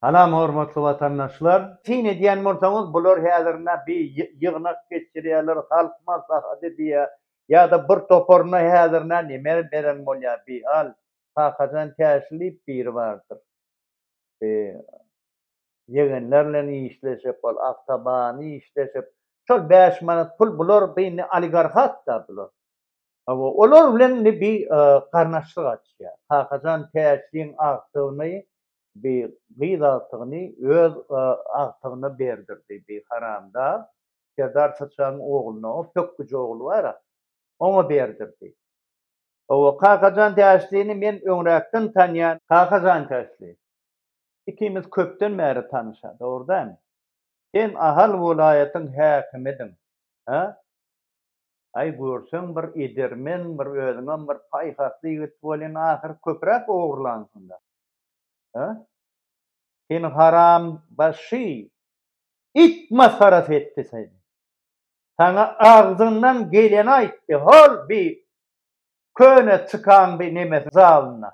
Salam hormatly watandaşlar! Syn edýän bolsaňyz bular häzir nä bi ýygnak geçirýärler halk maslahaty diýýä ýada bir toparyna häzir nä neme beren bolýa bi al Kakajan Täşli diýip biri bardyr bi ýegenler bilen işleşip bol awtobany işleşip şol bäş manat pul bular bi indi oligarhat da bular hawa olar bilen indi bi garnaşlyk açýa Kakajan Täşliň agtygyny Bi gyz agtygyny öz agtygyna berdirdi, bi haramdag Serdar Syçagyň ogluna, o pökgüji ogly bar-a, oňa berdirdi. Hawa, Kakajan Täşlini men öňräkden tanýan. Kakajan Täşli, ikimiz köpden bäri tanyş-a, dogry dälmi? Sen Ahal welaýatyň häkimidiň, hä? Aý, görseň bir edermen, bir özüňem bir paýhasly ýigit welin, ahyry köpräk ogurlansyň-da. Sen haram başy, it masarat etdi seni. Saňa agzyndan geleni aýtdy, hol bi köne çykan bi nemes zalyna.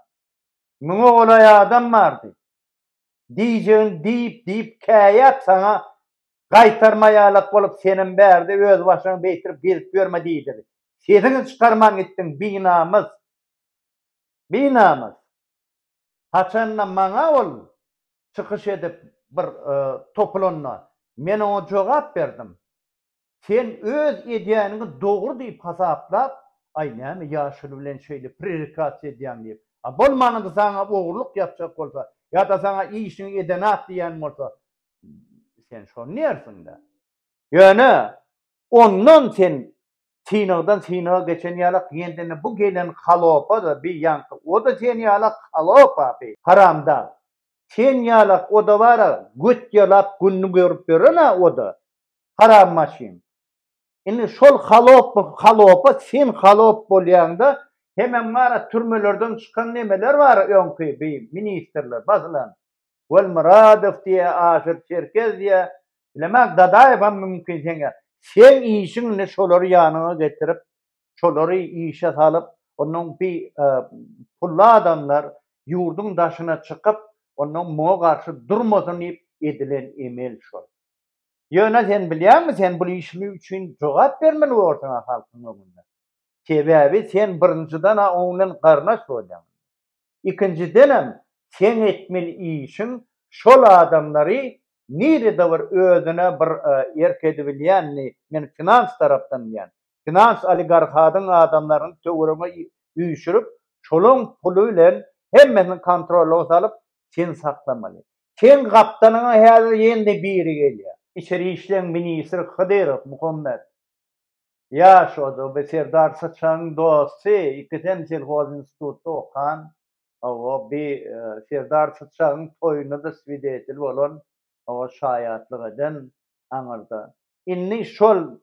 Müňe golaý adam bardy. Diýjegini diýip diýip käýäp saňa gaýtarmaýalak bolup senem bärde öz başyňy beýtirip gezip ýörme diýdigi. Sesiňi çykarman gitdiň binamys. Binamys. Haçan-da maňa ol çykyş edip bir topulanda, men oňa jogap berdim. Sen öz edýäniňi dogry diýip hasaplap, aý näme ýaşuly bilen şeýle prerekasiýa edýäň diýip, a bolmanynda saňa ogurlyk ýapjak bolsa, ýa-da saňa işiňi edenat diýen bolsa, sen şony diýersiň-dä. Ýöne ondan sen synagdan synaga geçen ýalak ýendeni bu gelen halopa-da bi ýaňky o-da sen ýalak halopa bi haramdag sen ýalak o-da bar-a göt ýalap gününi görüp ýören-ä o-da haram maşyn indi şol halopa halopa sen halop bolýaňda hemem bar-a türmelerden çykan nemeler bar-a öňki bi ministrler basylan Welmyradow diýä Aşyr Çerkez diýä bilemek Dadaýewem mümkin seňe seň işiň indi şolary ýanyňa getirip şolary işe salyp onnoň bi pully adamlar ýurdyň daşyna çykyp onnoň muňa garşy durmasyn diýip edilen emel şol. Ýöne sen bilýäňmi sen bul işli üçin jogap bermeli borsuň a halkyň öňünde. Sebäbi sen birinjiden a oň bilen garyndaş bolýaň. ikinjidenem seň etmeli işiň şol adamlary nirede bir özüne bir erk edibilýänini men finans tarapdan diýýän finans oligarhadyň adamlaryny töweregiňe üýşürip şolaň puly bilen hemmesini kontrolyňa salyp sen saklamaly seň gapdanyňa häzir ýene-de biri gelýär. Içeri işleň ministri Hydyrow Muhammet Ýaş odoby Serdar Syçanyň dosty, ikisem selhozinstitutda okan, hawa, bi Serdar Syçanyň toýuna-da swidetil bolan, hawa, şaýatlyk eden aňyrda. Indi şol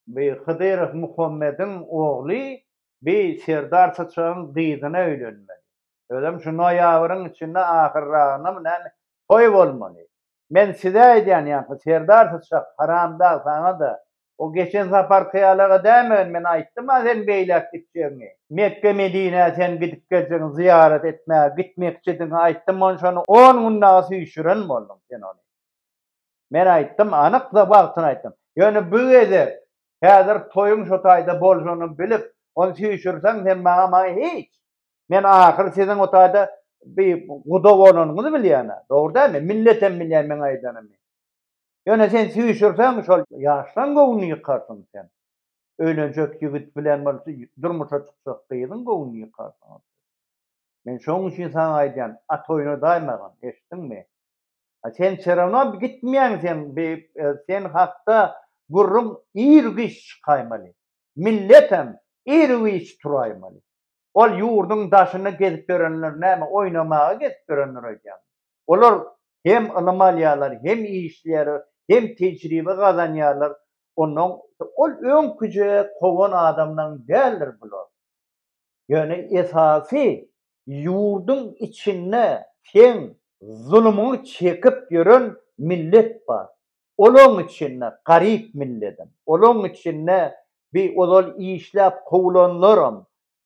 bi Hydyrow Muhammediň ogly bi Serdar Syçanyň gyzyna öýlenmeli. Özem şu noýabryň içinde ahyrragynamy näme toý bolmaly. Men size aýdýan ýaňky serdar syçak haramdag saňada o geçen saparky ýalaga dämegin men aýtdyma sen beýläk gitjegiňi. Mekge Medinä sen gidip geljegiň zyýarat etmäge gitmekçidigiňi aýtdym onşony on gün dagy süýşüren bolduň sen ony. Men aýtdym anyk da wagtyny aýtdym. Ýöne bu gezek häzir toýuň şotaýda boljagyny bilip ony süýşürseň sen maňa maňa hiç. Men ahyr siziň o taýda bir guda bolanyňyzy bilýän-ä. Dogry dälmi? Millet hem bilýär meň aýdanymy. Ýöne sen süýşürseň, şol ýaşlaň göwnüni ýykarsyň sen. Öýlenjek ýigit bilen bolsa durmuşa çykjak gyzyň göwnüni ýykarsyň. Men şonuň üçin saňa aýdýan, at oýnadaýmagyn, eşitdiňmi? A sen wse rawno gitmeýäň sen, sen hakda gürrüň ir-giç çykaýmaly. Millet hem ir-giç turaýmaly. Ol ýurduň daşyna gezip ýörenler näme oýnamaga gezip ýörenler aýdýamy? Olar hem ylym alýarlar, hem işleýärler, hem tejribe gazanýarlar. Ondan ol öňküje kowan adamlaň däldir bular. Ýöne esasy ýurduň içinde seň zulumyňy çekip ýören millet bar. olaň içinde garyp milledim, olaň içinde bi ozal işläp kowlanlaram,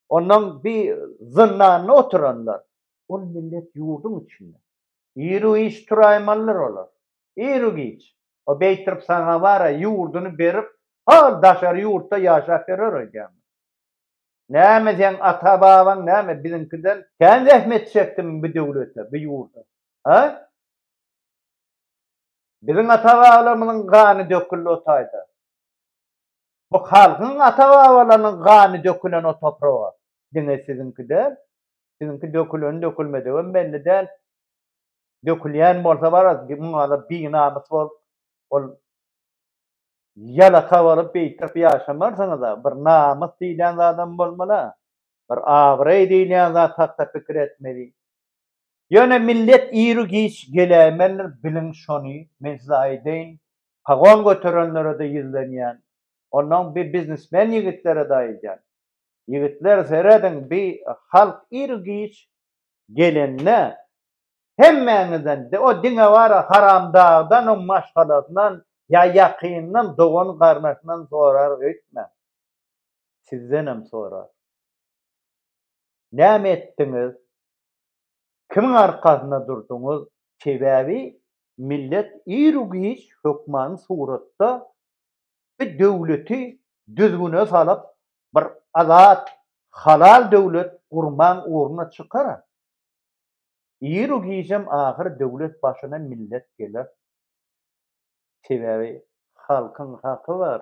ondan bi zyndanda oturanlar, ol millet ýurduň içinde. Iru giç turaýmalydyr olar. Iru giç. O beýtirip saňa bara ýurduny berip, hol daşary ýurtda ýaşap ýörer öýdýäňmi? Näme seň ata babaň näme biziňkiden kän zähmet çekdimi bu döwlete, bu ýurda? He? Biziň ata-babalarymyzyň gany döküldi o taýda. Bu halkyň ata-babalarynyň gany dökülen o topraga. Diňe siziňki däl. Siziňki döküleni-dökülmedigem belli däl. Dökülýän bolsa baras, muňa-da binamys bolup, ol ýalaka bolup beýtip ýaşamarsyňyz-a. Bir namys diýilýän zadam bolmaly-a. Bir abraý diýilýän zat hakda pikir etmeli. Ýöne millet iru giç geläýmelidir biliň şony men size aýdaýyn pagon göterenlerede ýüzlenýän onnoň bi biznesmen ýigitlerede aýdýan ýigitler serediň bi halk iru giç gelende hemmäňizden o diňe bara haramdagdan oň maşgalasyndan ýa ýakynyndan dogan garnaşyndan sorar öýtmäň sizdenem sorar näme etdiňiz Kimiň arkasynda durduňyz? Sebäbi millet ir-u giç hökmany suratda bir döwleti düzgüne salyp, bir azat, halal döwlet gurmaň ugruna çykar. Ir-u gicem ahyr döwlet başyna millet geler. Sebäbi halkyň haky bar.